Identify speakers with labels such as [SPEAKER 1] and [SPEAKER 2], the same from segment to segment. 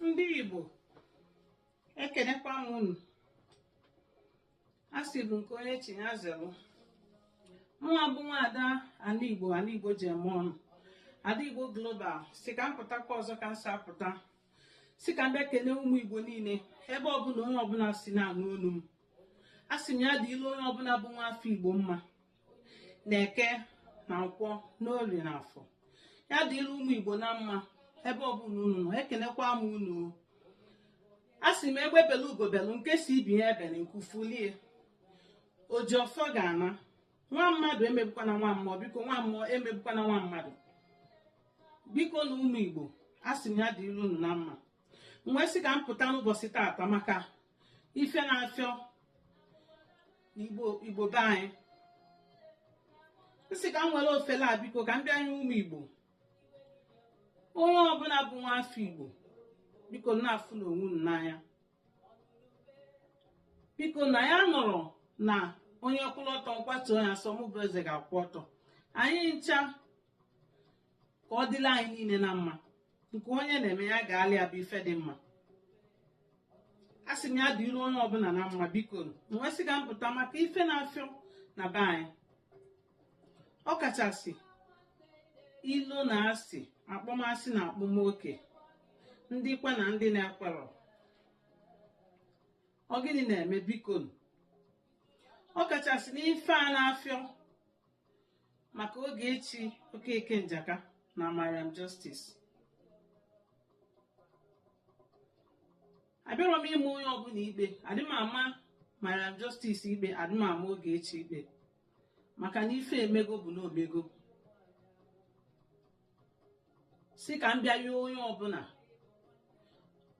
[SPEAKER 1] ndị Igbo ekenekwa m unu a sị bụ nke onye chi ya zelụ mụnwa bụ nwaada ala Igbo ala Igbo ji eme ọnụ Ada Igbo global sị ka m pụtakwa ọzọ ka m si apụta sị ka m bịa kene ụmụ Igbo niile ebe ọbụla onye ọbụla si na-anụ olu m a sị m ya dịlị onye ọbụla bụ nwa afọ Igbo mma na eke na nkwọ na orie na afọ ya dịrị ụmụ igbo na mma ebe ọbụla unu nọ ekenekwa m unu o. a sị m egbe belu ugo belu nke sị ibe ya ebena nku fulie oji ọfọ ga-ana nwa mmadụ emegbukwana nwa mmụọ biko nwa mmụọ emegbukwana nwa mmadụ biko na ụmụ igbo a sị m ya dịrị unu na mma m wee sị ka m pụta n'ụbọchị taata maka ife na-afịọ igbo be anyị m sị ka m nwere ofele a biko ka m bịa yọọ ụmụ igbo onye ọbụla bụ nwa afọ igbo biko na-afụnụ onwe unu n'anya biko na ya nọrọ na onye kwụrụ ọtọ m kwatuo ya sọ mụ bụ eze ga-akwụ ọtọ anyị ncha ka ọ dịlị anyị niile na mma nke onye na-eme ya gaalụ ya bụ ife dị mma a sị m ya dịrị onye ọbụla na mma biko m wee sị ka m pụta maka ife na-afịọ na be anyị ọ kachasị ilo na asị akpọmasị na akpọmoke ndị kwe na ndị na-ekwerọ ọ gịnị na-eme biko ọ kachasị n'ife a na-afịọ maka Ogechi okeke njaka na mariam justice abịarọ m ịma onye ọbụla ikpe adị m ama mariam justice ikpe adị m ama Ogechi ikpe maka na ife emego bụ na o mego sị ka m bịa yọọ onye ọbụla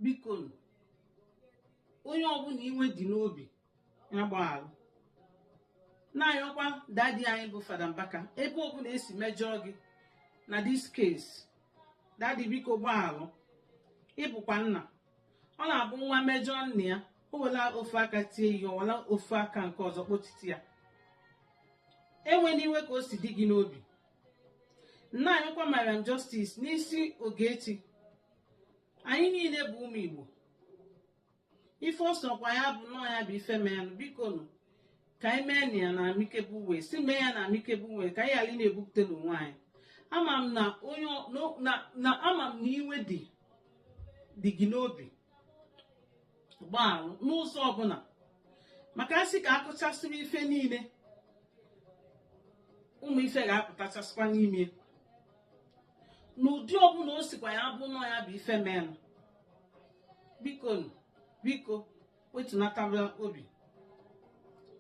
[SPEAKER 1] biko onye ọbụla iwe dị n'obi ya gbaghalụ na-ayọkwa dadi anyị bụ fada mbaka ebe ọbụla e si mejọọ gị na this case dadi biko gbaghalụ ị bụkwa nna ọ na-abụ nwa mejọọ nna ya o wela ofu aka tie ihe o wela ofu aka nke ọzọ kpotiti ya ewela iwe ka o si dị gị n'obi na-ayọkwa mariam justice n'isi ogechi anyị niile bụ ụmụ igbo ife ọ sọkwa ya bụ nọọ ya bụ ife menụ biko nụ ka anyị meenụ ya na amicable way si mee ya na amicable way ka anyị ghara na-ebupụta n'onwe anyị ama m na onye ọ- no- na- na ama m na iwe dị dị gị n'obi gbaalụ n'ụzọ ọbụla maka asị ka akụchasịrị ife niile ụmụ ife ga-apụtachasịkwa n'ime n'ụdị ọbụla o sikwa ya bụ nọ ya bụ ife menụ biko biko wetunataba obi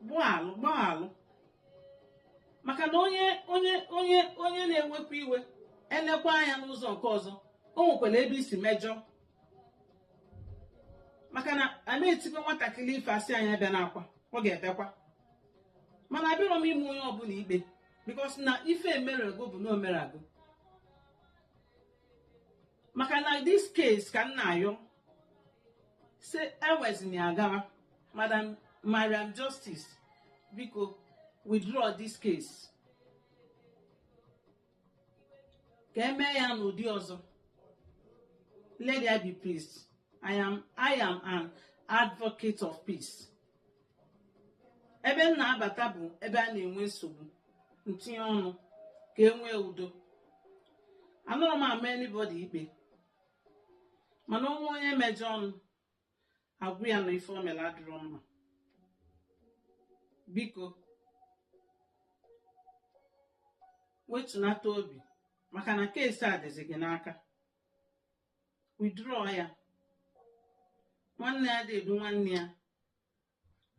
[SPEAKER 1] gbaalụ gbaalụ maka na onye onye onye onye na-ewepụ iwe elekwa anya n'ụzọ nke ọzọ o nwekwara ebe i si mejọọ maka na a na-etikwa nwatakịrị ife asị ya ebena akwa ọ ga-ebekwa mana abịarọ m ịma onye ọbụla ikpe because na ife emerego bụ na o merego maka na this case ka m na-ayọ sị ewezina ya gara madam mariam justice biko withdraw this case ka e mee ya n'ụdị ọzọ let there be peace i am i am an advocate of peace ebe m na-abata bụ ebe a na-enwe nsogbu m tinye ọnụ ka e nwee udo anọrọ m ama anybody ikpe mana o nwee onye mejọọnụ a gwa ya na ife o mere adịrọ mma biko wetunata obi maka na case a dịzi gị n'aka withdraw ya nwanne adị edu nwanne ya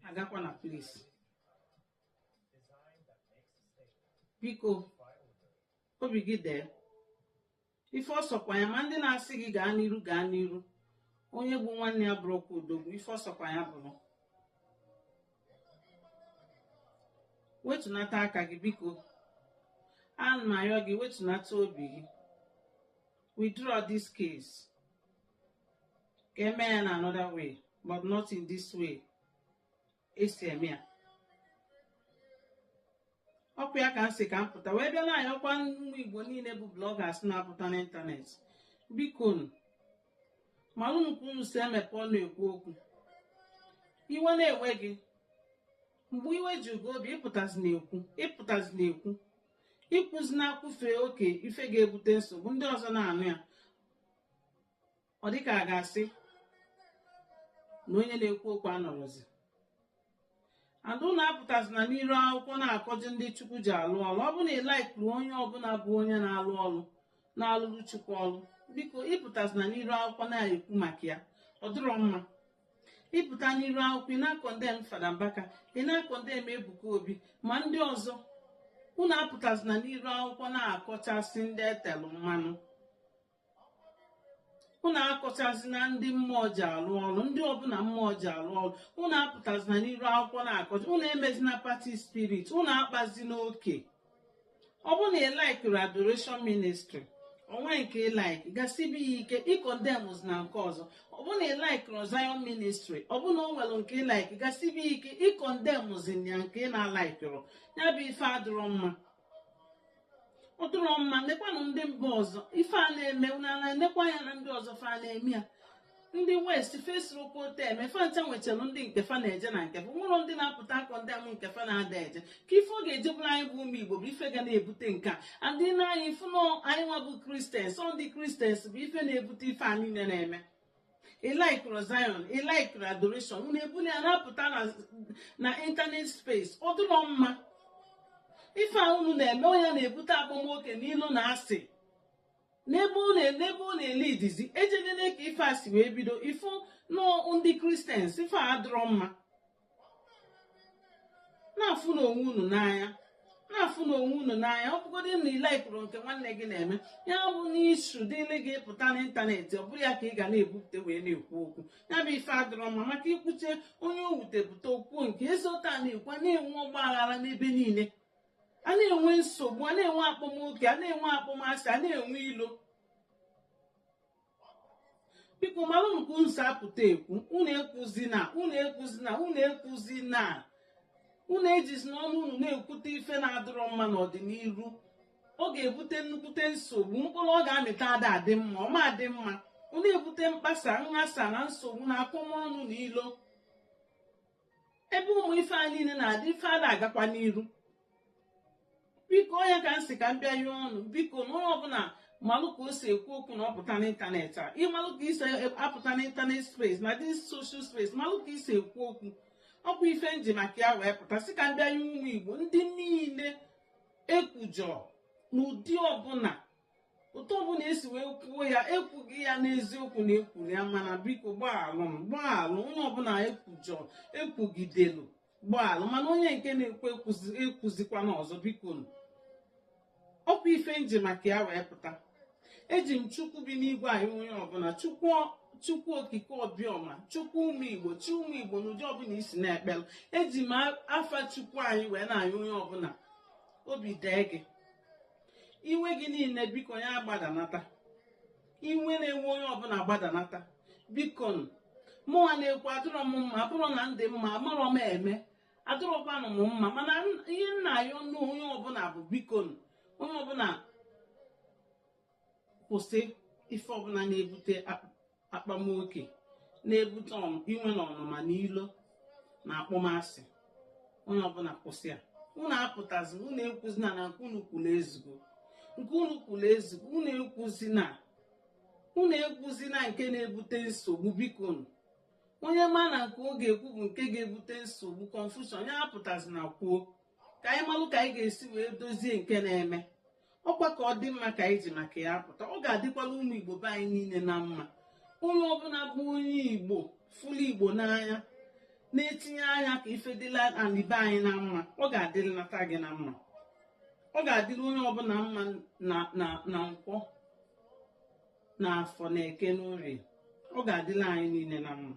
[SPEAKER 1] agakwa na police biko obi gị dee ife ọ sọkwa ya ma ndị na-asị gị gaa n'iru gaa n'iru onye gbuu nwanne ya abụrọkwa odogwu ife ọ sọkwa ya bụrụ wetunata aka gị biko ana m ayọ gị wetunata obi gị withdraw this case ka eme ya na another way but not in this way e si eme ya ọkwa ya ka m sị ka m pụta wee bịa na-ayọkwa ụmụ igbo niile bụ bloggers na-apụta n'ịntanetị biko nụ maranụ ka unu si emepe ọnụ ekwu okwu iwe na-ewe gị mgbe iwe jugo obi ịpụtazi na-ekwu ịpụtazi na-ekwu ikwuzi na-ekwufe oke ife ga-ebute nsogbu ndị ọzọ na-anụ ya ọ dịka a ga-asị na onye na-ekwu okwu anọrọzi and unu apụtazina n'iru akwụkwọ na-akọji ndị chukwu ji alụ ọlụ ọ bụ na ị likerọ onye ọbụla bụ onye na-alụ ọlụ na-alụrụ chukwu ọlụ biko ị pụtazina n'iru akwụkwọ na-ekwu maka ya ọ dịrọ mma ịpụta n'iru akwụkwọ ị na-akọndem Fada Mbaka ị na-akọndem Ebuka Obi ma ndị ọzọ unu apụtazina n'iru akwụkwọ na-akọchasị ndị e telụ mmanụ unu akọchazina ndị mmụọ ji alụ ọrụ ndị ọbụna mmụọ ji alụ ọrụ unu apụtazina n'iru akwụkwọ na-akọcha unu emezina party spirit unu akpazina oke ọ bụ na ị laikirọ adoration ministry o nwee nke ị laik gasibe ya ike ị kọndemụzina nke ọzọ ọ bụ na ị laikirọ zion ministry ọ bụ na o nwelu nke ị laik gasibe ya ike ị kọndemụzina nke ị na-alaikirọ ya bụ ife adịrọ mma ọ dịrọ mma nekwanụ ndị mba ọzọ ife a na-eme unu na-enekwa anya na ndị ọzọ fa na-eme ya ndị west fa esirọkwa otu a eme fa ncha nwechara ndị nke fa na-eje na nke fa o nwerọ ndị na-apụta akọndem nke fa na-ada eje kee ife ọ ga-eji bụrụ anyị bụ ụmụ igbo bụ ife ga na-ebute nke a ndị na anyị fụ na anyị nwa bụ kristians ọ ndị kristians bụ ife na-ebute ife a niile na-eme ị laikirọ zion ị laikirọ adoration unu ebuli ya na-apụta na ịntanet space ọ dịrọ mma ife a unu na-eme ọ ya na-ebute akpọmoke na ilo na asị n'ebe ọ na- n'ebe ọ na-ele idizi ejedele ka ife a si wee bido ị fụ na ọ ndị kristians ife a adịrọ mma na-afụnụ onwe unu n'anya na-afụnụ onwe unu n'anya ọ bụgodu na ị laikirọ nke nwanne gị na-eme ya abụna issue dịrị gị ị pụta n'ịntanetị ọ bụrụ ya ka ị ga na-ebupụta wee na-ekwu okwu ya bụ ife adịrọ mma maka i kwuchaa onye o wute pụta o kwuo nke ya e si otu a na-ekwu a na-enwe ọgba aghara n'ebe niile a na-enwe nsogbu a na-enwe akpọmoke a na-enwe akpọmasị a na-enwe ilo biko malụnụ ka unu si apụta ekwu unu ekwuzina unu ekwuzina unu ekwuzina unu ejizina ọnụ unu na-ekwute ife na-adịrọ mma n'ọdịniru ọ ga-ebute nnukwute nsogbu mkpụrụ ọ ga-amịta ada adị mma ọ ma adị mma ọ na-ebute mkpasa nghasa na nsogbu na akọmọnụ na ilo ebe ụmụ ife a niile na-adị ife ana agakwa n'iru biko ọ ya ka m sị ka m bịa yịọ unu biko na onye ọbụna malụ ka o si ekwu okwu na ọ pụta n'ịntanetị a ị malụ ka i si apụta n'ịntanetị space na the social space malụ ka i si ekwu okwu ọkwa ife nji maka ya wee pụta sị ka m bịa yịọ ụmụ igbo ndị niile e kwujọ n'ụdị ọbụna otu ọbụna e si wee kwuo ya e kwugo ya n'eziokwu na e kwuru ya mana biko gbaalụ m gbaalụ onye ọbụna e kwujọ e kwugidelu gbaalụ mana onye nke na-ekwu ekwuzikwana ọzọ biko ọkwa ife nji maka ya wee pụta eji m chukwu bi n'igwe ayịọ onye ọbụna chukwu chukwu okike obiọma chukwu ụmụ igbo chi ụmụ igbo n'ụdị ọbụna i si na-ekpelu eji m afa chukwu anyị wee na-ayịọ onye ọbụna obi dee gị iwe gị niile biko ya gbadanata iwe na-ewe onye ọbụla gbadanata biko mụnwa na-ekwu adịrọ m mma ọ bụrụ na m dị mma amarọ m eme adịrọkwanụ m mma mana ihe m na-ayọnụ onye ọbụla bụ biko onye ọbụla kwụsị ife ọbụla na-ebute akpamoke na-ebute inwe na ọnụma na ilo na akpọmasị onye ọbụla kwụsị ya unu apụtazi unu ekwuzina na nke unu kwuru ezugo nke unu kwuru ezugo unu ekwuzina unu ekwuzina nke na-ebute nsogbu bikonụ onye ma na nke ọ ga-ekwu bụ nke ga-ebute nsogbu confusion ya apụtazina kwuo ka anyị malụ ka anyị ga-esi wee dozie nke na-eme ọkwa ka ọ dị mma ka anyị ji maka ya apụta ọ ga-adịkwala ụmụ igbo be anyị niile na mma onye ọbụla bụ onye igbo fụlụ igbo n'anya na-etinye anya ka ife dịla ali be anyị na mma ọ ga-adịlata gị na mma ọ ga-adịrị onye ọbụla mma na nkwọ na afọ na eke n'orie ọ ga-adịla anyị niile na mma